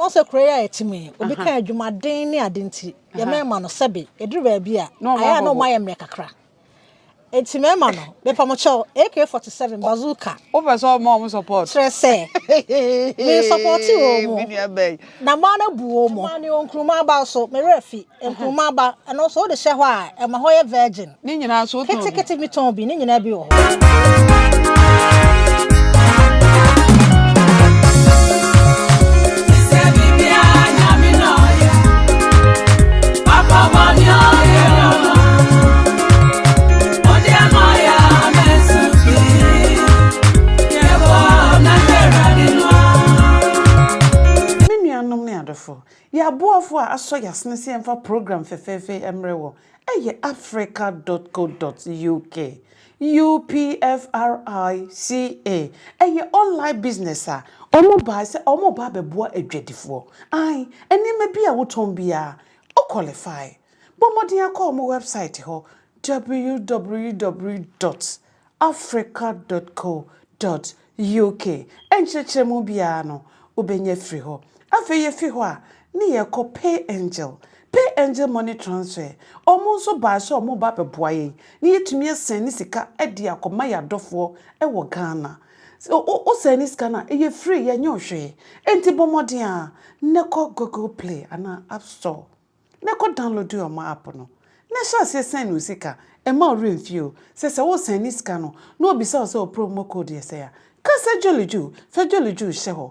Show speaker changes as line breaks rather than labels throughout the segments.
Ɔn sɛ kuro yi a yɛte mu yi, obi ka adwumaden ne ade nti, yɛ mɛɛma no sɛbe, ɛduru baabi a, ayɛ a na ɔma yɛ mmerɛ kakra. Nti mɛɛma no, mepa mo kyɛw, AK-47 bazooka. Wopɛ sɛ ɔma ɔmo
support? Kyerɛ sɛ,
me supporte ɔmo, na maa no abu ɔmo. Ɔmaa ne ɔnkurumaa baa so, me werɛ fi. Nkruma ba, ɛno nso wode hyɛ hɔ a, ɛma hɔ yɛ virgin. Ne nyinaa nso wotɔn bi? Ketekete
bi tɔn bi, ne nyinaa
bi wɔ hɔ.
Yɛ aboafo a asɔ yasene sɛ yɛmfa program fɛfɛɛfɛ yi mmrɛ wɔ ɛyɛ africa dot co dot uk UPFRICA ɛyɛ online business a wɔn bae sɛ wɔn reba abɛboa adwadifoɔ ae nneɛma bi a wotɔn biara wo qualify bɔ mmɔden akɔ wɔn website hɔ www dot Africa dot co dot UK nkyerɛkyerɛmu biara no, wobɛnya afiri hɔ. Afei yɛfiri hɔ a, ne yɛkɔ Pay Angel. Pay Angel Money Transfer, wɔn nso baa sɛ wɔn reba abɛboa yɛn, na yɛtumi asɛn ne sika de akɔma yɛn adɔfoɔ wɔ Ghana. Sɛ wo, wo sɛn ne sika no a, ɛyɛ free, yɛnyɛ wo hwee. Enti bɔ mmɔden ara na kɔ Google Play anaa App Store. Na kɔ download ɔmo app no na hyɛ aseɛ sɛn no sika, ɛmma wo werɛ mfie o sɛ sɛ wo sɛn ne sika no na ɔbisa wo sɛ wo promo code yɛ sɛn a ka sɛ Jolly Ju, fɛ Jolly Ju hyɛ hɔ,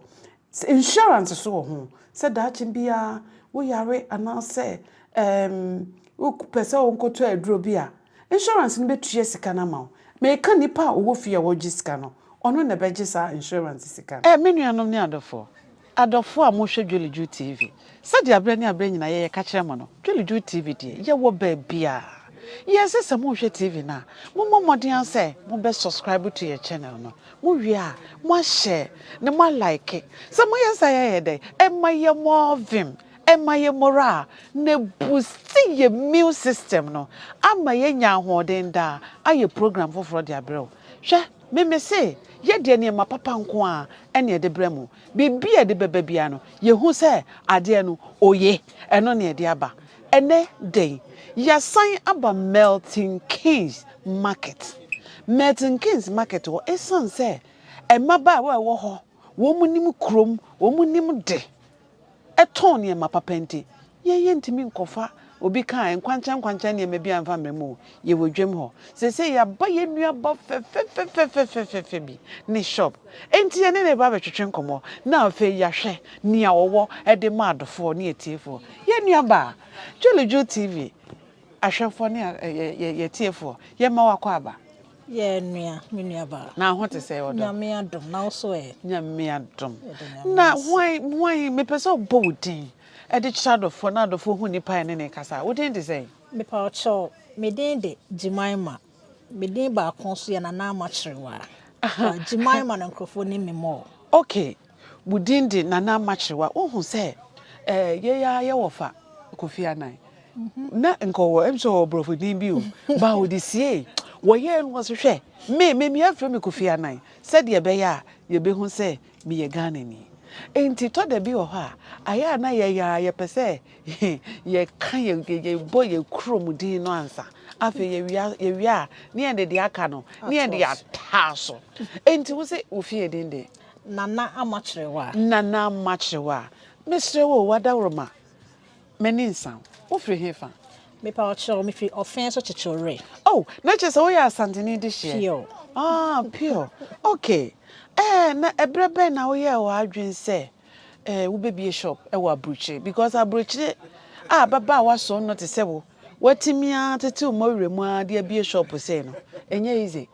insurance nso wɔ ho sɛ daakye biara wo yare anaa sɛ eem wo pɛ sɛ wo nkɔ tɔ aduro bi a insurance no bɛ tua sika no ama wo, me ka nipa a ɔwɔ fie a ɔgye sika no ɔno na ɛbɛgye saa insurance sika no. Me nuanom ne adɔfoɔ, Adɔfoɔ a mohwɛ Dwelidwo TV, sɛdeɛ aberɛ ne aberɛ nyinaa yɛyɛ kakyerɛ mo no, Dwelidwo TV deɛ yɛwɔ baabiara. Yɛse sɛ mohwɛ TV no a, mommɔ mmɔden ara sɛ mobɛ subscribe to yɛn channel no. Mowie a, moashare na moalike. Sɛ moyɛ saa a ɛyɛ dɛn? Ɛma yɛn more vim, ɛma yɛn morale, na ɛbusti yɛn immune system no ama yɛanya ahoɔden daa ayɛ program foforɔ de aberɛ wo. Hwɛ Me me se, yɛ deɛ nneɛma papa nko ara ɛne ɛde brɛ mo. Biribi a ɛde bɛba biara no, yɛhu sɛ adeɛ no oye. Ɛno na ɛde aba. Ɛnɛ dɛn? Yɛasan aba Milton Keynes Market. Milton Keynes Market hɔ, ɛsiane sɛ mmabaawa a ɛwɔ hɔ, wɔn nim kurom, wɔn nim de. ɛtɔn nneɛma papa nti, yɛn yɛntumi nkɔfa, obi ka a, nkwankyɛn nkwankyɛn nneɛma biara mfa mmrɛ mu o, yɛwɔ dwam hɔ. Seesei yɛaba yɛn nuaba fɛfɛfɛfɛfɛfɛfɛ bi ne shop, enti yɛne no reba abɛtwetwe nkɔmmɔ, na afei yɛahwɛ nea ɔwɔ de ma adɔfoɔ ne atiefoɔ. Yɛn nuabaa, Dwelodwo TV ahwɛfoɔ ne yɛn atiefoɔ, yɛma wakɔ aba. Yɛ nua,
me nua baa. Na ho te sɛ ɔdɔ. Nyame
adom, na wo so
ɛ. Nyame adom.
Na hwan, hwan, mepɛ sɛ ɔbɔ wo din de kyerɛ adɔfoɔ na adɔfoɔ hu nipa a ɛne ne kasa. Wo din te sɛn? Mepa wo kyɛw,
me din de Jemima. Me din baako nso yɛ Nana Ama Kyerewaa. Jemima no nkorɔfoɔ nim me more. Okay.
Wo din de Nana Ama Kyerewa. Wo hu sɛ eh yei ara yɛ wɔ fa Kofi Annan. Na nka ɔwɔ ɛm sɛ ɔwɔ borɔfo din bi o. Ba a ɔde siee. Wɔ yɛɛ no ɔse hwɛ me me me afrɛ me Kofi Annan sɛdeɛ ɛbɛyɛ a yɛ bɛ hu sɛ me yɛ Ghanani. Nti tɔ da bi wɔ hɔ a ayɛ a na yɛ yɛ ara yɛ pɛ sɛ yɛ ka yɛ yɛ yɛ bɔ yɛ kuro mu din no ansa. Afei yɛ wia yɛ wia a ne yɛ de deɛ aka no ne yɛ de ataa so. Nti wo se wo fie din deɛ. Nana Ama
Kyerewa. Nana Ama Kyerewa,
Mesrɛ wo o, w'adaworoma, m'ani nsa wo. Wofiri hefa? Mepa wo kyɛw,
mefiri Ɔfɛn so Kyekyewre. Oh, na kyerɛ sɛ
woyɛ Asanteni dehyeɛ? Pure. Ah, pure. Okay. Eh, na ɛberɛ bɛn na woyɛɛ w'adwene sɛ eh, wobɛbie shop wɔ Aburokyire? Because Aburokyire a ababaawa sono te sɛ wo, woatumi ara atetew mmɔwerɛ mu ara de abie shop sei no, ɛnyɛ easy.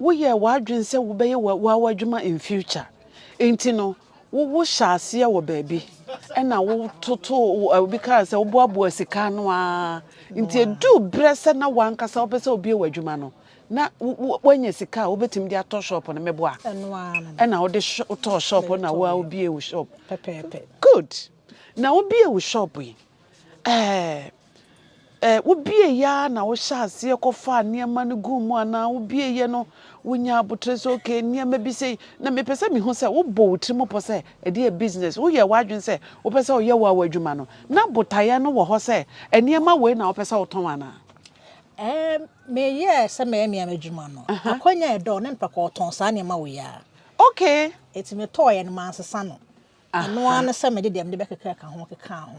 Woyɛɛ w'adwene sɛ wobɛyɛ w'awa adwuma in future nti no wo wo hyɛ aseɛ wɔ baabi ɛna wo toto obi kaa sɛ woboaboa sika ano aa nti edu berɛ sɛ na wankasa wopɛ sɛ obie w'adwuma no na woanya sika a wobɛtumi de atɔ shop no meboa ɛna wode wotɔɔ shop no na woa wobie wo shop good na wobie wo shop yi ɛɛ Ɛ, wobieeɛ ara na wohyɛɛ aseɛ kɔfaa nneɛma no guu mu anaa wobieeɛ no wonyaa aboterɛ sɛ okay nneɛma bi sei? Na mepɛ sɛ mehu sɛ wobɔ wo tirim pɔ sɛ ɛde yɛ business, woyɛɛ w'adwene sɛ wopɛ sɛ woyɛ wo a w'adwuma no, na botaeɛ no wɔ hɔ sɛ nneɛma wei na wopɛ sɛ wotɔn anaa? Ɛ,
meyɛɛ sɛ mɛyɛ me ara m'adwuma no. Akwanya a ɛda hɔ na mepɛ kɔɔtɔn saa nneɛma wei ara. Okay.
Enti metɔeɛ
no, mansesa no. Ɛno ara ne sɛ mede deɛ mede bɛkeka ka ho kekaa ho.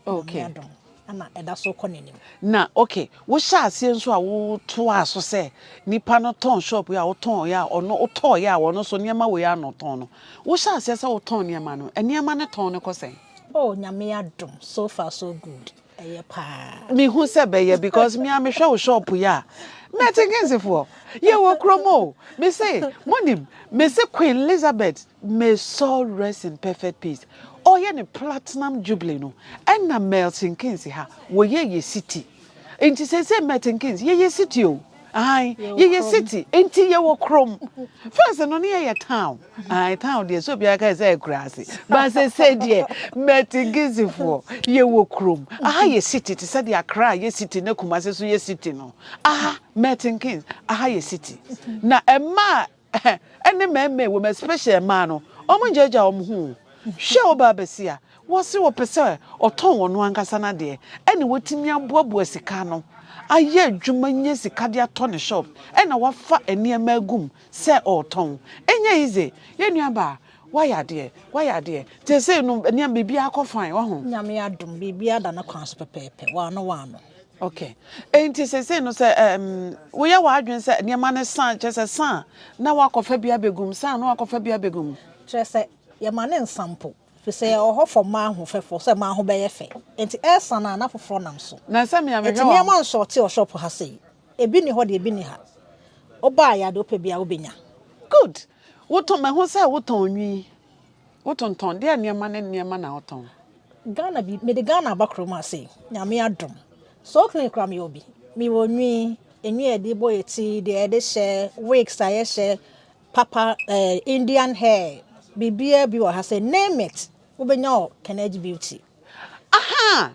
Nyame
adom na
ɛda so kɔ n'anim. Na ok,
wohyɛɛ aseɛ nso a wotoaa so sɛ nipa no tɔn shop yi a wotɔɔeɛ a ɔno wotɔɔeɛ a ɔno nso nneɛma wei ara na ɔtɔn no. Wohyɛɛ aseɛ sɛ wotɔn nneɛma no, nneɛma no tɔn no kɔ sɛn? Oh Nyame
adom, so far so good. Ɛyɛ paa. Me hu sɛ bɛyɛ
because me a me hwɛ wo shop yi a mɛ tinkinsi foɔ yɛ wɔ kuro mu o me se mo nim me se queen Elizabeth may soul rest in perfect peace ɔyɛ ne platinum jubilee no ɛna mɛ tinkinsi ha wɔ yɛ yɛ city nti sese mɛ tinkinsi yɛ yɛ city o. Ae yɛyɛ city nti yɛwɔ krom first no ne yɛyɛ town ae town deɛ sɛ obiara kae sɛ akuraase ba sɛsɛ deɛ mɛtigizifoɔ yɛwɔ krom aha yɛ city te sɛ deɛ akra yɛ city na kumase so yɛ city no aha mɛtinkins aha yɛ city na ɛmaa Ɛhɛ ɛne mɛɛmɛɛ wom especially mmaa no wɔn ngyaagyaa wɔn ho o hwɛ wobaa basia wɔse wɔpɛ sɛ ɔtɔn wɔn ankasa nadeɛ ɛna watumi aboaboa sika ano ayɛ adwuma nya sika de atɔ ne shop ɛna wafa nneɛma agum sɛ ɔretɔn ɛnyɛ easy yɛ nua baa wayɛ adeɛ wayɛ adeɛ tesei no nneɛma biribiara kɔ fine waho. Nyame adom biribiara
da ne kwan so pɛpɛɛpɛ waano waano. Ok,
enti seesei no sɛ ɛɛm woyɛ w'adwene sɛ nneɛma no sa a, kyerɛ sɛ sa a na woakɔfa bi abɛgu mu, sa a na woakɔfa bi abɛgu mu. Kyerɛ sɛ,
yɛma no nsa mpo, firi sɛ yɛwɔ hɔ for mmaa ho fɛfoɔ, sɛ mmaa ho bɛyɛ fɛ, enti ɛresa no a na foforɔ nam so. Na sɛ me a mehwɛ Enti wɔ nneɛma
nsɔɔte wɔ
shop ha sei, ebi nni hɔ deɛ ebi nni ha. Wobaeɛ a deɛ wopɛ biara wobɛnya. Good,
wotɔn, mahu sɛ wotɔn nwi. Wotontɔn deɛ nneɛma ne nneɛma na wotɔn. Ghana bi
mede Ghana aba kurom ha sei nyame adom so clean koraa meyɛ obi mewɔ nwi nwi a yɛde bɔ yɛ ti deɛ yɛde hyɛ wigs a yɛhyɛ papa eh, Indian hair biribiara bi wɔ ha sɛ name it wobɛnya wɔ Kenedji Beauty. Aha!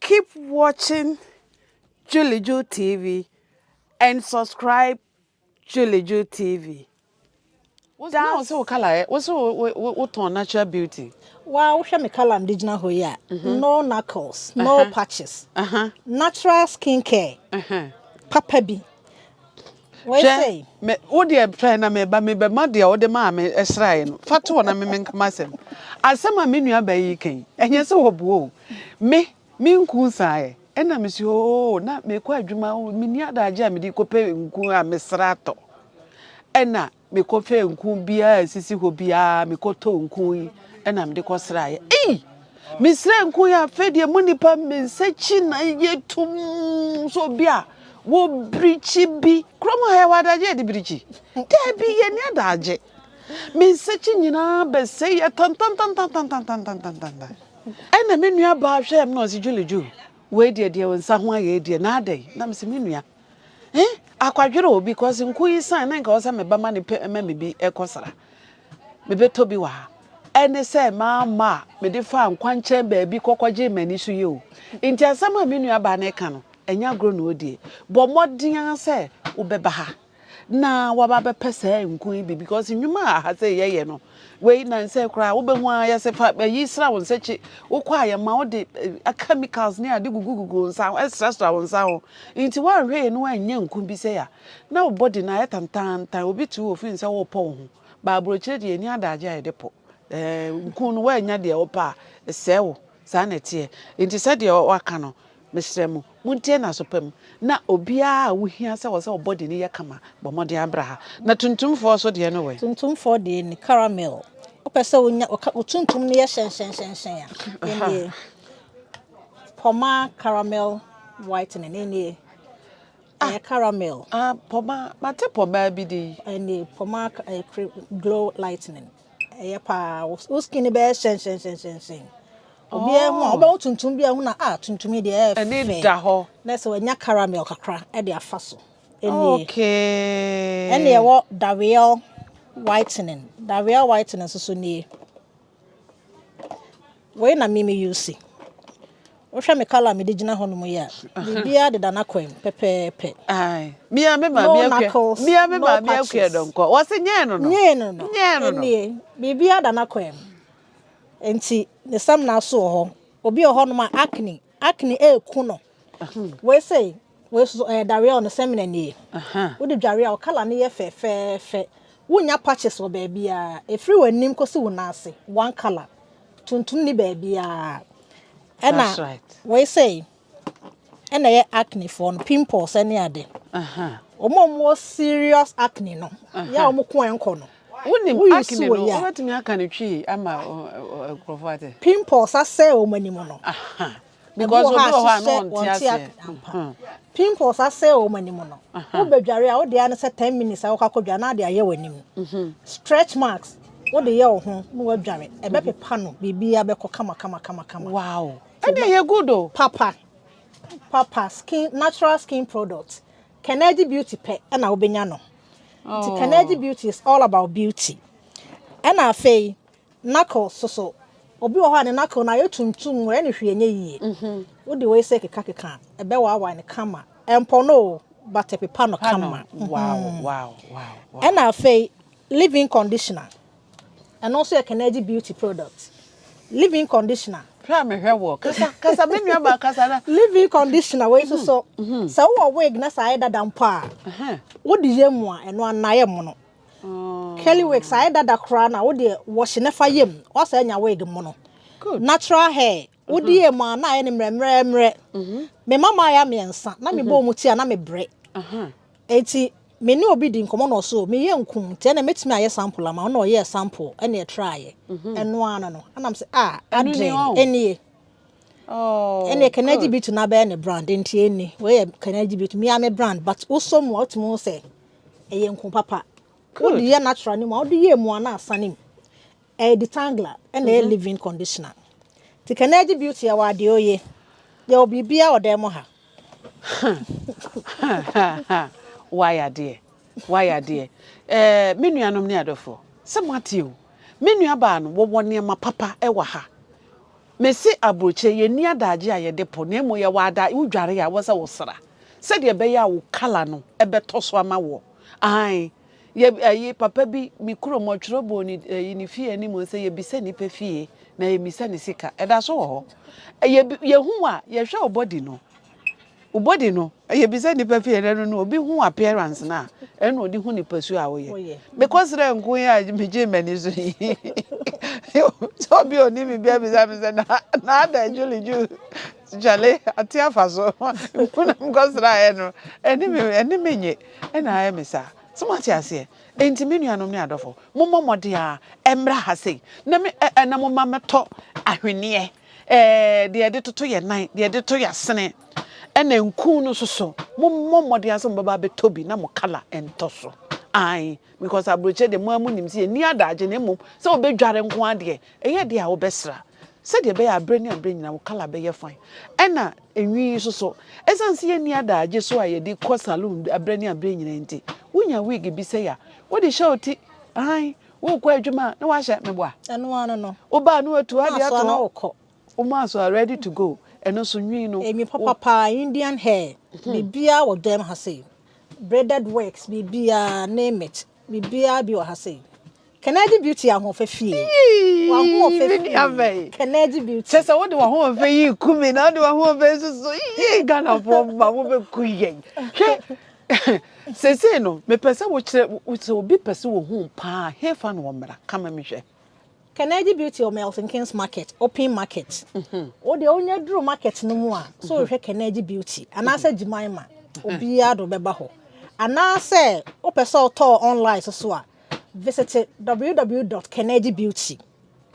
Keep watching Juliju TV and subscribe Juliju TV. Wosɛ wo se wo color ɛ, wosɛ wo tɔn natural beauty. Waa wohwɛ me
color mede gyina hɔ yi a, no knuckles, no patches, natural skin care papa bi. Wei Hwɛ, sei. me, wo deɛ
twɛn na meba, mebɛma deɛ wode maa me sraeɛ no. Fa to hɔ na me menka m'asɛm. Asɛm a me nuabaa yi reka yi, ɛnyɛ sɛ wɔboa o. Me, me nku nsaeɛ. Ɛna mese, oo, na mekɔ adwuma, oo, menni adagye a mede kɔpɛ nku a mesra tɔ. Ɛna Mekɔfɛɛ nku biaa a ɛsisi hɔ biaa mekɔtɔɔ nku yi ɛna mede kɔsraeɛ ei! Mesrɛɛ nku yi afei deɛ mo nipa mensa kyi na yɛ tum so obi a wɔ birikyi bi kurom ha yɛwɔ adagye yɛde birikyi daabi yɛni adagye mensa kyi nyinaa bɛsɛ yɛ tantantan ɛna me nua baa hwɛɛ me na ɔse Julie Ju wei deɛ deɛ nsa ho ayɛ deɛ na adɛn na mese me nua Eh, akwadwere o, because nku yi san na nka ɔsɛ me ba ma ne pɛ ma me bi ɛkɔsra. Mebɛtɔ bi wɔ ha. Ɛne sɛ maa ma a mede faa nkwankyɛn baabi kɔkɔgye m'ani so yɛ o. Nti asɛm a me nua baa no ɛka no, ɛnyɛ agorɔ na ɔredie. Bɔ mmɔden ara sɛ wobɛba ha na waba abɛpɛ saa nku yi bi because nnwuma a aha sɛ yɛyɛ no, Wei nansa yi koraa wobɛhu ara yɛse fa ayi sra wo nsa kyi wokɔ a yɛma wode eh, chemicals ne ade gugugugu wo nsa ho ɛsrasra wo nsa ho nti woanhwɛ yɛ ne woanyɛ nku bi sɛ a na wo body no ayɛ tantantan obi tu wɔ fi sɛ wopɔ wo ho baaburokyerɛ deɛ ɛni adagye a yɛde pɔ eh, nku no woannya deɛ wopɛ a ɛsɛe wo Saa na ɛteɛ. Enti sɛdeɛ waka no, mesrɛ mo, montie n'aso pa mu, na obiara a wohia sɛ ɔsɛ ɔbɔ deɛ ani yɛ kama, bɔ mmɔden abra ha. Na tuntumfoɔ so deɛ no wɛ? Tuntumfoɔ deɛ ni,
caramel. Wopɛ sɛ wonya, wo tuntum no yɛ hyɛnhyɛnhyɛnhyɛn a, ɛnnie. Pɔma caramel whitening, ɛnnie. Ah, Ɛyɛ caramel. ah, pɔma,
mate pɔma bi din. Ɛnnie, pɔma
eh, cre- glow lightning. ɛyɛ paa wo wo skin bɛyɛ hyɛnhyɛnhyɛnhyɛn obiara ho a Oh, wobɛwo tuntum bi a ho na a tuntum yi deɛ ɛyɛ ɛne fɛ da hɔ. na
sɛ wanya caramel
kakra ɛde afa so ɛnie ɛne
Okay. ɛwɔ daweɛ
whitening daweɛ whitening nso so nie Wei na me me use. Wohwɛ me colour a mede gyina hɔ nom yi a, biribiara deda n'akwan mu pɛpɛɛpɛ. Ae. Me
ara me maame No akua. knuckles, Me ara me no maame akua patches. dɔnkɔ. Wɔse nyɛɛ no no. Nyee no no, Nyɛɛ no no. ɛnnie,
biribiara da n'akwan mu. Enti ne samina so wɔ hɔ. Obi wɔ hɔnom a acne, acne ɛreku no. Wei sei, Wei nso so, ɛyɛ dareɛ o, ne sɛmina nie. Wode dware a, wo colour no yɛ fɛfɛɛfɛ. Wonnya patches wɔ baabiara. Ɛfiri w'anim kɔsi wo nan ase, one colour. Tuntum nni baabiara. Ɛna wei sei, ɛna ɛyɛ acne foɔ no, pimples ne ade. Wɔn a wɔwɔ serious acne no, yɛ a wɔn ko ɛnkɔ no. Wonim acne no,
wobɛtumi aka no twi ama nkurɔfoɔ ate. Pimples asɛe
wɔn anim no. because
obi wɔ hɔ a no wɔn ti ase pimples
asɛ wɔn anim no wobɛdware a wode ano sɛ ten minutes a wɔkɔ akɔdwa na ade ayɛ wɔn anim mhm. stretch marks wode yɛ wo ho na wadware ɛbɛpepa no biribi abɛkɔ kama kama kama kama wow
ɛdeɛ yɛ good o papa
papa skin natural skin product kɛnɛgye beauty pɛ ɛna wobɛnya no nti oh. kɛnɛgye beauty is all about beauty ɛna afei Knuckle so so. Obi wɔ hɔ a ne knuckle no ayɛ tuntum, ɔyɛ no hwee nyɛ yie. Wode wei sɛ keka keka a, ɛbɛwaawae no kama. Ɛmpɔ no o, but ɛpepa no kama.
Ɛna
afei, leave-in conditioner. Ɛno nso yɛ Kenedji Beauty product. Leave-in conditioner. Hwɛ a mehwɛ woɔ.
Kasa, kasa, me nuabaa kasa na. Leave-in conditioner
wei nso so, sɛ wowɔ wig na sɛ ayɛ dada mpo a, wode yɛ mu a, ɛno ara no ayɛ mono. Curly wigs ayɛ dada koraa na wode wɔhye na fa yam. Wasa anya wig mono. Natural
hair.
Wode yɛ mu a na ayɛ ne mmerɛmmerɛmmerɛ. Mhm. Me mama ayɛ mmiɛnsa na mebɔ wɔn mhm. ti a na mebrɛ. Aha. Eti me ne obi di nkɔmɔ na ɔso me yɛ nkum nti ɛna metumi ayɛ sample ama ɔna ɔyɛ sample ɛna ɛtra ayɛ. Mhm. Ɛno ano no. Ɛna mse ah adre ɛnie. Oh. Ɛna can LGBT na bɛyɛ ne brand nti ɛni. Wɔyɛ can LGBT me a me brand but wosɔ mu a wotumi ho sɛ ɛyɛ nku papa wode yɛ natural no mu a wode yɛ mua no asa no mu ɛyɛ detangler ɛna ɛyɛ mhm. living conditioner nti kɛnɛ gye beauty ɛwɔ adeɛ oye yɛwɔ biribia wɔ dan mu ha
wayɛ adeɛ wayɛ adeɛ eh, me nuanom ne adɔfoɔ sɛ moate o me nuabaa no wɔwɔ nneɛma papa ɛwɔ ha Mese aburokyire, yɛnni adagye a yɛde po, na mmom yɛwɔ ada wo dware a ɛwɔ sɛ wo sra, sɛdeɛ ɛbɛyɛ a wo kala no bɛtɔ so ama woɔ. Aane, yɛ ayi, papa bi, me kurom, ɔtwerɛ bɔɔ ne ayi, ne fie anim sɛ, yɛbisa nipa fie, na yɛmmisa ne sika. Ɛda so wɔ hɔ. Yɛ, yɛhu wo a, yɛhwɛ wo body no, wo body no ɛyɛ bi sɛ nipa fie ɛnɛ no no obi hu appearance no a ɛno na ɔde hu nipa su a woyɛ mekɔ serɛ nko yi a megye m'ani so yi sɛ obi ɔni me bia bisa me sɛ na ada adwuli ju kyale ate afa so mpo na mekɔ serɛ ayɛ no ɛne me nye ɛna ayɛ me saa sɛ moate aseɛ enti me nuanom ne adɔfo mommɔ mmɔden a ɛmmra ha sei na me ɛna mo ma mɛtɔ ahweneɛ Ɛɛ, deɛ yɛde toto yɛn nan, deɛ yɛde toto yɛn asene, ɛna nkuu no nso so. Mommɔ mmɔden ara sɛ mobɛba abɛtɔ bi na mo kala ntɔ so. Ae, because aburokyire deɛ mo ara monim sɛ yɛnni adagye na mmom sɛ wobɛdware nko ara deɛ, ɛyɛ deɛ a wobɛsra. Sɛdeɛ ɛbɛyɛ a berɛ ne aberɛ nyinaa wo kala bɛyɛ fine. Ɛna nhwi yi nso so, ɛsiane sɛ yɛnni adagye so a yɛde kɔ saloon berɛ ne aberɛ nyinaa nti, wonya wig bi sɛe a, wode hyɛ wo ti. Ae, Wokɔ adwuma a, na wahyɛ meboa. Ɛno ano no.
Woba a, na watu adeɛ
ato hɔ. Woma asoa na wokɔ. Woma asoa ready to go. Ɛno nso nwi no. Nwi papa paa, Indian
hair. Biribiara wɔ dwam ha sei. Braided works, biribiara, name it. Biribiara bi wɔ ha sei. Kennedy Beauty ahoɔfɛ fie. Wahoɔfɛ fie. Kennedy Beauty. Kyɛ sɛ wode wahoɔfɛ
yi ku me na wode wahoɔfɛ nso so. Yee Ghanafoɔ mma mobɛku yɛn. Hwɛ Seesei no, mepɛ sɛ wokyerɛ, sɛ obi pɛ sɛ ohu wo paa a, hefa na ɔmmra? Ka ma mehwɛ. Kennedy
Beauty wɔ Milton Keynes Market, Open Market. Wo deɛ wonya duru market no mu a, sɛ wohwehwɛ Kennedy Beauty anaasɛ Jemima, obiara de wo bɛba hɔ. Anaasɛ wopɛ sɛ wotɔ wɔ online so so a, visite www dot kennedy beauty.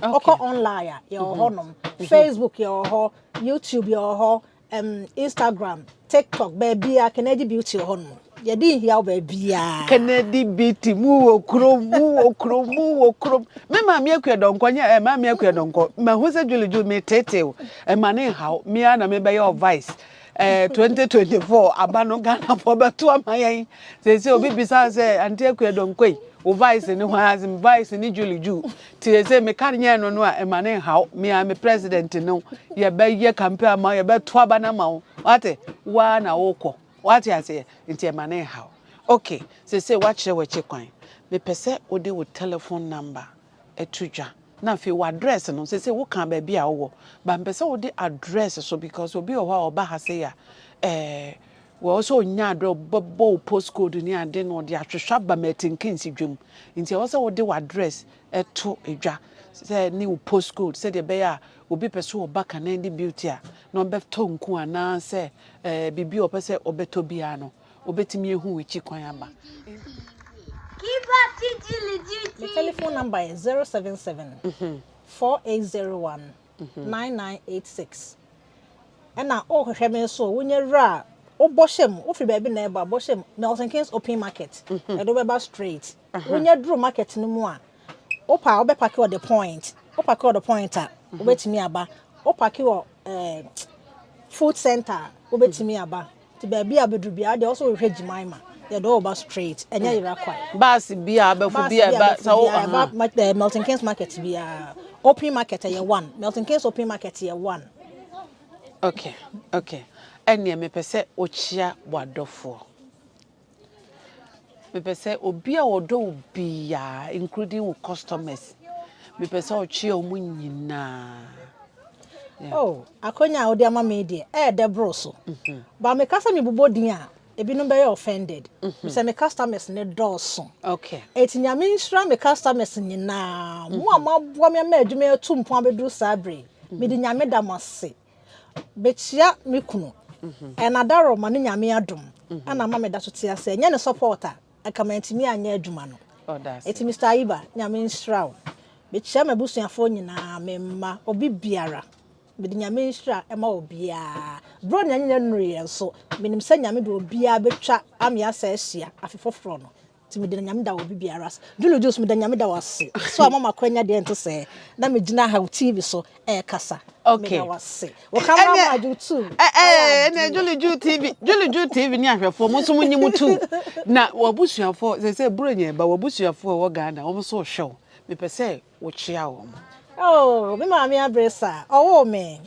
Wokɔ Okay. online a, yɛwɔ hɔnom. Facebook yɛwɔ hɔ, YouTube yɛwɔ hɔ, um, Instagram, TikTok, baabiara Kennedy Beauty wɔ hɔnom. Yɛde nhia wo baabiara. Kennedy
Beauty mu wɔ kurom, mu wɔ kurom, mu wɔ kurom. Me maame akua dɔnkɔ nyɛ ɛ eh, maame akua dɔnkɔ. Ma hu sɛ Julie Julie me tete o. Eh, ma ne nhaw. Me ana me bɛyɛ o vice. Eh, 2024 aba no Ghana fo bɛto ama yɛn. Sɛ sɛ obi bisa sɛ ante akua dɔnkɔ yi, o vice ne hwan asem vice ne Julie Julie. Ti ese me kar nyɛɛ no no a ɛma ne nhaw me a me president no yɛbɛyɛ kampe ama yɛbɛto aba no ama wo wate waa na wokɔ wate aseɛ nti ɛma ne nhaw ok sese wakyerɛ w'akyi kwan mepɛ sɛ wode wo telephone number ɛto dwa na afei wo address no sese woka baabi a wowɔ ba mpɛ sɛ wode address so because obi wɔ hɔ a ɔba ha sei a ɛɛ Wɔ hɔ sɛ ɔnya adeɛ a ɔbɛbɔ wo post code ne adeɛ na ɔde ahwehwɛ aba ma atinke nsi dwam. Nti ɛwɔ sɛ wode w'address to dwa sɛ ne wo post code sɛdeɛ ɛbɛyɛ a obi pɛ sɛ ɔba Kanandi Beauty a na ɔbɛtɔ nku anaa sɛ eh, biribi a ɔpɛ sɛ ɔbɛtɔ biara no ɔbɛtumi ahu w'akyi kwan aba. Me telephone
number yɛ 077 4801 nine nine eight six ɛna o hwehwɛ me nso wo nyɛ wura a wo bɔ hyɛ mu wo firi baabi na ɛba bɔ hyɛ mu Milton Keynes open market ɛde wo bɛba straight wo nyɛ duro market no mu a wo pa a wo bɛ paki wɔ the point wo paki wɔ the point a wo bɛ tumi aba wo paki wɔ ɛɛ food center a wo bɛ tumi aba. Nti baabi a bɛduru biara deɛ ɔsɛ wohwɛ Jimaima yɛde ɔba straight ɛnyɛ yera kwan. Baasi biara abɛfo
biara ɛba sa wo aha. Eh, Milton
Keynes market biara open market ɛyɛ one Milton Keynes open market yɛ one.
Okay okay ɛneɛ mepɛ sɛ wokyea wadɔfoɔ. Mepɛ sɛ obi a ɔdɔ wo biara including wo customers mepɛ sɛ ɔkyea ɔmo nyinaa.
Yeah. Oh, akonya a wode ama me deɛ ɛɛdɛ boro so. Mm-hmm. Ba meka sɛ mebobɔ din a ebinom bɛyɛ offended. Mm-hmm. Sɛ me customers ne dɔɔso. Okay. Eti
nyame nhyira
me customers nyinaa. Mo a mm-hmm. moaboa me ama adwuma atu mpɔn abɛduru saa bere. Mede nyame da mo ase. Mekyia me kunu and Adaro ma no Nyame adom na ama meda so te ase. Ɛnyɛ ne support a, anka mantumi anyɛ adwuma no. Eti Mister
Ayiba, Nyame
nhyira wo. Mekyia m'abusuafoɔ nyinaa, me mma, obi biara. Mede Nyame nhyira ma obiara. Berɛ onua nyina nuruiɛ nso, menim sɛ Nyame de obiara bɛtwa ameasa ahyia afe foforɔ no. Nti meda Nyame da wɔ bibiara ase. Julie Jules meda Nyame da wo ase so ama makora nya deɛ nte sɛɛ na me gyina ha wo TV so ɛɛkasa. Okay. Meda wo ase.
Wo
camera man adwo tu. Ɛɛ ɛnɛ Julie
Jules TV Julie Jules TV ne ahwɛfoɔ mo nso mo nyi mo tu. Na wabusuafoɔ sɛ sɛ buro nyɛ ba wabusuafoɔ ɛwɔ Ghana wɔn nso hwɛ wo mepɛ sɛ wo kyea wɔn. Oh me
maame abresa ɔwoo me.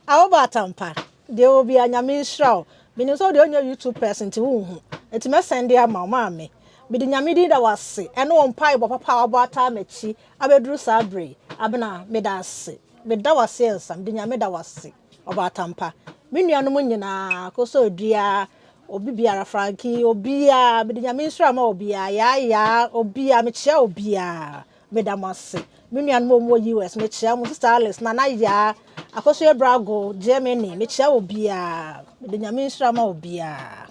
Ah wobɔ atampa deɛ o bia nyame nhyira wo menim sɛ wode ɔnyɛ YouTube person nti wonhu nti mɛ sɛnde ama wo maame mede nyame din da wo ase ɛne wo mpae bɔ papa a wabɔ ataa makyi abɛduru saa bere yi abena meda ase meda wo ase ɛnsa mede nyame da wo ase ɔbɔ atampa me nuanom nyinaa kɔsɔ dua obi biara franki obiara mede nyame nhyira ma obiara yaayaa obiara mekyea obiara Meda mo ase. Me nuanom a wɔwɔ US, mekyea mo. Sista Alice, Nana Yaa, Akosua Abrago, Germany, mekyea obiara. Mede Nyame nhyira ma obiara.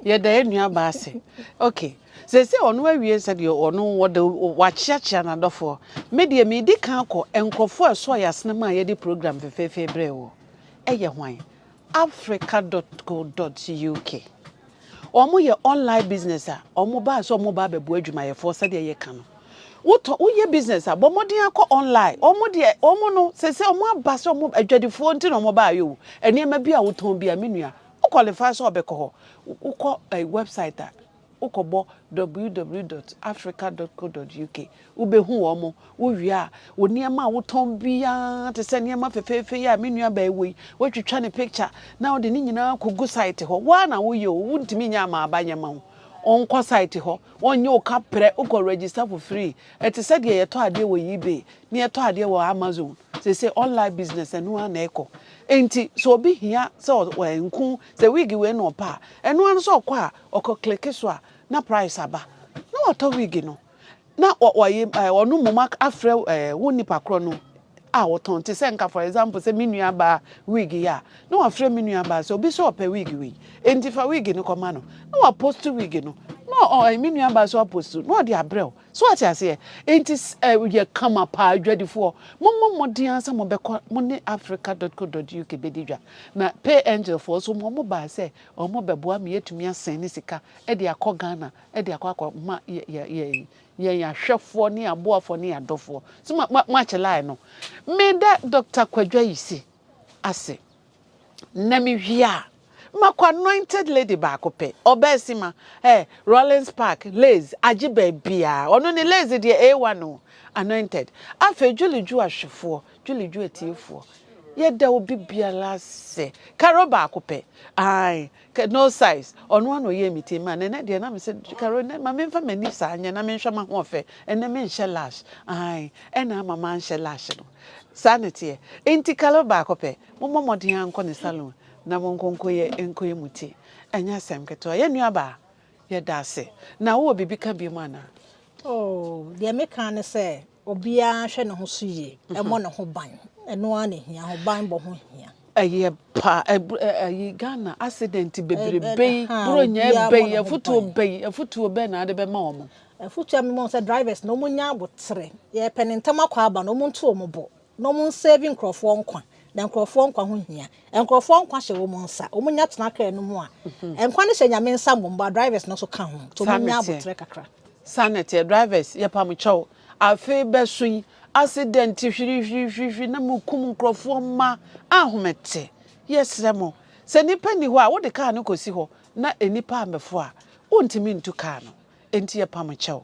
Yɛda yɛn nuabaa ase. Okay. Sɛsɛ ɔno awie sɛdeɛ ɔno wɔde wakyeakyea n'adɔfoɔ. Me deɛ medi kan kɔ nkurɔfoɔ a ɛsɔɔ yɛn asenem a yɛde program fefeefe brɛɛ wɔ. Ɛyɛ hwan? Africa.co.uk, Wɔyɛ online business a wɔbaa sɛ wɔreba abɛboa adwumayɛfoɔ sɛdeɛ yɛka no. Wotɔ woyɛ business a bɔ mmɔden akɔ online. Wɔn deɛ wɔn no sese wɔn aba sɛ wɔn adwadifoɔ nti na wɔbaa yɛ o. Nneɛma bi a wotɔn bi a me nua wo qualify sɛ ɔbɛkɔ hɔ wokɔ ɛyi website a Wokɔbɔ www dot africa dot co dot uk, wobɛhu wɔn. Wowie a, wo nneɛma a wotɔn biara, te sɛ nneɛma fɛfɛɛfɛ yi a me nua baa yi wɔ yi, woatwitwa ne picture na wode ne nyinaa kɔgu site hɔ. Wo ara na woyɛ o, wontumi nyɛ ama aba nyɛ ma wo. Wonkɔ site hɔ, wɔnyɛ wo kaprɛ, wokɔ register for free. Ɛte sɛ deɛ yɛtɔ adeɛ wɔ eBay ne yɛtɔ adeɛ wɔ Amazon seesei, online business, ɛno ara na ɛkɔ. Enti sɛ obi hia sɛ ɔ, ɛ, nku sɛ wig wei na ɔpɛ a, ɛno ara no sɛ ɔkɔ a, Ɔkɔ click so a na price aba na watɔ wig no na wayi ɔno mmom afrɛ wo nipa korɔ no a wɔtɔn te sɛ nka for example sɛ me nua baa wig yi a na wafrɛ me nua baa sɛ obi sɛ ɔpɛ wig wei enti fa wig no kɔma no na wapost wig no na ɔ me nua baa so apost na ɔde abrɛ wo so ate aseɛ enti yɛ kama paa adwadifoɔ mommɔ mmɔden ara sɛ mobɛkɔ mo ne africa.co.uk bɛdi dwa na pay angel foɔ so mo mo baa sɛ Wɔbɛboa ma yɛatumi asɛn ne sika de akɔ Ghana de akɔ akɔma yɛn ahwɛfoɔ ne yɛn aboafoɔ ne yɛn adɔfoɔ. So moakyɛ line no? Meda Doctor Kwadwo Ayisi ase. Na mewie a, makɔ anointed lady baako pɛ, Ɔbɛasima, eh, Rawlings Park, Lays, agye baabiara. Ɔno ne Lays deɛ A1 o, anointed. Afei Julie Ju ahwɛfoɔ, Dwelidwo atiefoɔ, yɛda obi biara ase. Carol baako pɛ, ae, ka, no size, ɔno ara na ɔyɛɛ me ti, ma, na ɛnɛ deɛ na me sɛ, Carol, ɛnɛ ma me nfa m'ani saa nyɛ na me nhwɛ m'ahoɔfɛ, ɛnɛ me nhyɛ lash, ae, ɛna ama manhyɛ lash no. Saa na ɛteɛ. Enti Carol baako pɛ, mo mmɔ mmɔden ara nkɔ ne salon na mo nkɔ nkɔyɛ, nkɔyɛ mo ti. Ɛnyɛ asɛm ketewa. Yɛn nua baa, yɛda ase. Na wo wɔ biribi ka biom anaa? Oh,
deɛ me ka ne sɛ, Obiara hwɛ ne ho so yie, ɛmmɔ ne ho ban. Ɛno ara na ɛhia, ahobanbɔ ho hia. Ɛyɛ pa,
ayi Ghana accident bebrebe yi, Buronya bɛn, afutuo bɛn, afutuo bɛn na wode bɛma wɔn? Afutuo a mema wɔn sɛ
drivers no, wɔnyɛ aboterɛ. Yɛrepɛ no ntɛm akɔ aba no, wɔnto wɔn bo. na wɔn nsɛɛvi nkorɔfoɔ nkwa, na nkorɔfoɔ nkwa ho hia, nkorɔfoɔ nkwa hyɛ wɔn nsa, wɔn nya tena kra no mu a, nkwa no hyɛ Nyame nsa mmom, bɔ drivers no nso ka ho, nti wɔn nya aboterɛ kakra. Saa na ɛteɛ,
drivers yɛ pamo kyɛw, afei bɛ so yi, accident hwirihwirihwirihwiri na mo kum nkorɔfoɔ mma ahomete, yɛ srɛ mo, sɛ nipa nni hɔ a, wo de kaa no kɔ si hɔ, na nipa ammɛfo a, wo ntumi ntu kaa no, enti yɛ pamo kyɛw.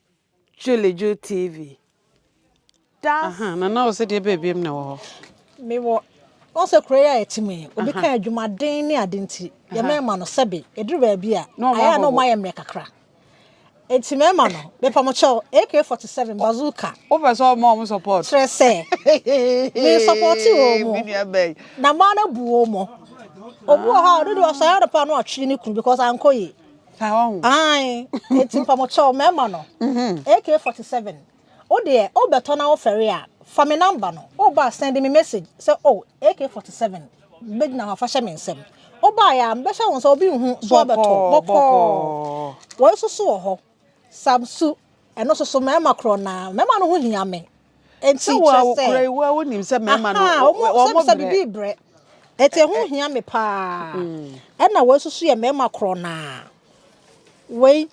Julijo TV. That's. Aha, na na ɔsɛ deɛ baabi am na ɛwɔ hɔ. Me wɔ
wɔn sɛ kuro yi a ɛte mu yi obi ka adwumaden ne ade nti yɛ mɛma no sɛbe eduru baabi a ayɛ a na wɔn ayɛ mmerɛ kakra eti mɛma no mepa mo kyɛw AK47 bazooka. Wopɛ sɛ ɔma wɔn
support. Kyerɛ sɛ
me support wɔn mo na maa na bu wɔn mo obu wɔ hɔ a ɔno de ɔsɔre adɔpɔ ano ɔtwe ne kunu because ankɔ yie. ae eti mpamokyɛw mɛma no AK47 wo deɛ wo bɛtɔ na wo fɛre a fa me number no wo ba send me message sɛ oh AK47 bɛgyina hɔ afa hyɛ me nsɛm wo ba ya bɛhyɛ wo nsa obi nhu so abɛtɔ bɔkɔɔ wɔyi soso wɔ hɔ samsu ɛno soso mɛma korɔ na mɛma no ho hia me Enti kyerɛ sɛ. Sɛ wɔkura yi wa
wonim sɛ mmarima no wɔn mo brɛ. Bibi
brɛ. Eti ɛho hia me paa. Ɛna wɔn nso so yɛ mmarima korɔ naa. Wei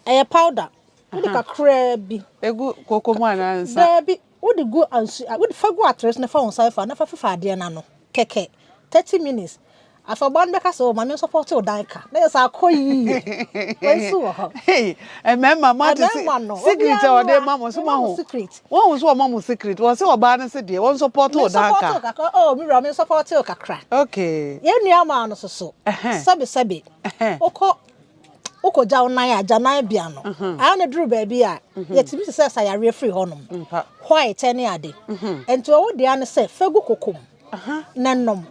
ɛyɛ powder. Wode kakraa bi. Egu koko mu
anaa nsa. Daabi wode
gu nsu wode fa gu atere so na fa wɔn nsa fa na fa fifa adeɛ no ano kɛkɛ thirty minutes. Afɔrba no bɛka sɛ, oh, ma me nsɔpɔɔte wo dan ka. Na yɛ sɛ akɔ yie. Wei nso wɔ hɔ. Hey, mmarima,
moate se, Mmarima no, secret a obiara ɔde ma mo, so mema mo moahu. secret. Woahu so ɔma mo secret. Wɔse ɔbaa no se deɛ, ɔnsɔpɔɔte wo dan Mensɔpɔɔte ka. wo kakra, oh, me wura, mensɔpɔɔte
wo kakra. Okay. Yɛn
nuammaa no nso
so, Ɛhɛn. sɛbesɛbe, Ɛhɛn. wokɔ, wokɔgya wo nan a, agyananbea no, ayɛ no duru baabi a, yɛtumi sesa yareɛ firi hɔnom, Ampa. white ne ade. Enti wɔ wo dea no sɛ, fa gu koko mu. na nom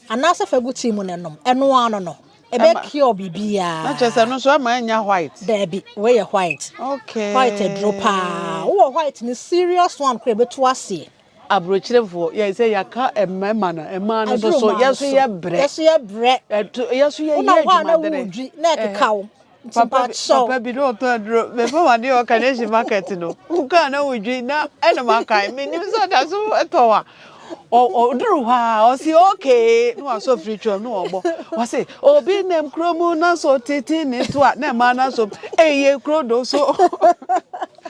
anaasɛ fa gu tea mu na nom ɛno ara no no ɛbɛ cure biribiara na kyerɛ sɛ no nso ɛma
ɛnya white daabi wei yɛ
white okay white
aduro paa
wowɔ white no serious one kora ɛbɛtu aseɛ aburokyerefoɔ
yɛ sɛ yɛaka mmarima no mmaa no so so yɛso yɛ brɛ yɛso yɛ brɛ
yɛso yɛ yɛ adwumadere
na ɛkeka wo
Papa bi papa
bi na ɔtɔ aduro. Mɛfɛ wade wɔ Carnation market no. Wokaa na wodwi na ɛna makae. Menim sɛ ɔda so tɔ wa. Ɔduru hɔ a ɔsi okay na wasɔ firi twam na ɔbɔ. Ɔsi obi nam kuro mu na so tete ne to a na ɛma na so eye kuro do so.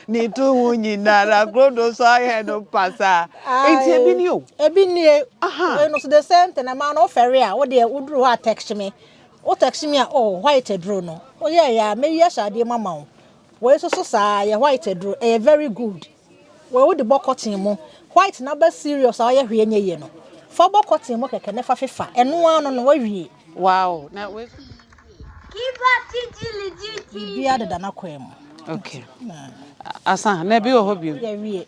Ne to ho nyinara kuro do so ayɛ no pasaa. Eti ebi ni o. Ebi nie. Aha.
Ɛno so the same thing ɛma no ɔfɛre a wodeɛ woduru hɔ a text me. Wo text me a oh white aduro no woyɛɛ yɛ a mɛyi ahyɛ adeɛ mu ama wo wei nso so saa yɛ white aduro ɛyɛ very good wei wode bɔ cotton mu white na ba serious a ɔyɛ hwee nyɛ yie no fa bɔ cotton mu kɛkɛ na fa fefa ɛno ara no no wawie. Wow na
wei nso
biribiara deda n'akwan mu. Okay.
Asan na ebi wɔ hɔ bio. Yɛwie.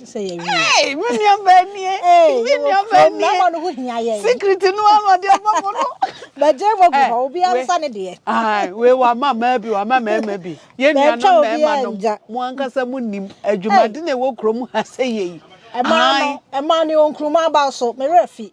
sɛ yɛwie. Hey, me nua baa
nie. Hey, me nua baa nie. Mmarima no ho
hia yɛn. Secret no ano ɔde
ama mo no. Bɛgye mo gu
hɔ, obi ansa ne deɛ. Ayi, wei wama
mmaa bi, wama mmarima bi. Yɛn nuanom mmarima nom, mo ankasa mo nim adwumade na ɛwɔ kurom ha sɛ yɛ yi. Ɛmaa no,
ɛmaa ne onkuruma aba so, me werɛ fi.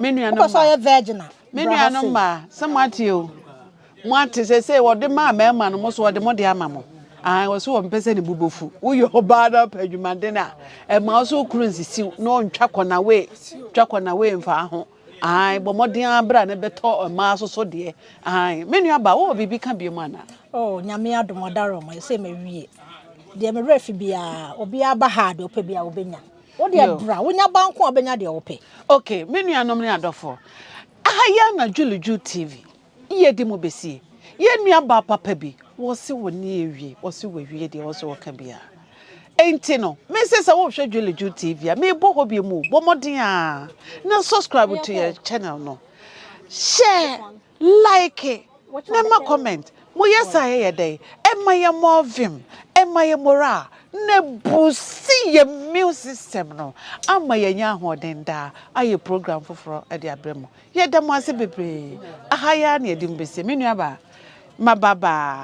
Me nuanom Wopɛ sɛ
ɔyɛ virgin a, me
bra ha nuanom sei. mmaa
sɛ moate o moate sɛsei wɔde maa mmarima no mo so wɔde mo de ama mo ahan wɔ so wɔmpɛ sɛ ne bo bɛfu woyɛ ɔbaa na ɔpɛ adwumaden a ɛma wo so wo kunu nsisiw na ɔntwa kɔnawee twa kɔnawee mfaa ho ahan bɔ mmɔden ara bra na bɛtɔ mmaa so so deɛ ahan me nua ba wowɔ biribi ka biom anaa Oh, nyame adom
ɔdare ɔma ɛsɛ mawie. Deɛ me werɛ fi biara, obiara ba ha a deɛ ɔpɛ biara obɛnya. Wo deɛ Yo. bra, wonya ba nko a wobɛnya deɛ wopɛ. Ok me nuanom
ne adɔfoɔ, aha yi ara na Juliju TV yɛ de mo bɛsie. Yɛn nua baa papa bi, wɔse wo nni awie, wɔse wawie deɛ wɔse wɔka biara. Enti no, me se sɛ wohwɛ Juliju TV a, mebɔ hɔ bio mu o, bɔ mmɔden ara na subscribe to yɛn channel no. Hyɛ. Like na ma comment mo yɛ saa yɛ yɛ dɛn ɛma yɛ more vim ɛma yɛ moral na ɛbuusi yɛ mune system no ama yɛ nya ahoɔden daa ayɛ program foforɔ de abrɛ mo yɛ da mo ase bebree aha yi ara na yɛ de mo bɛsie me nua baa ma ba baa.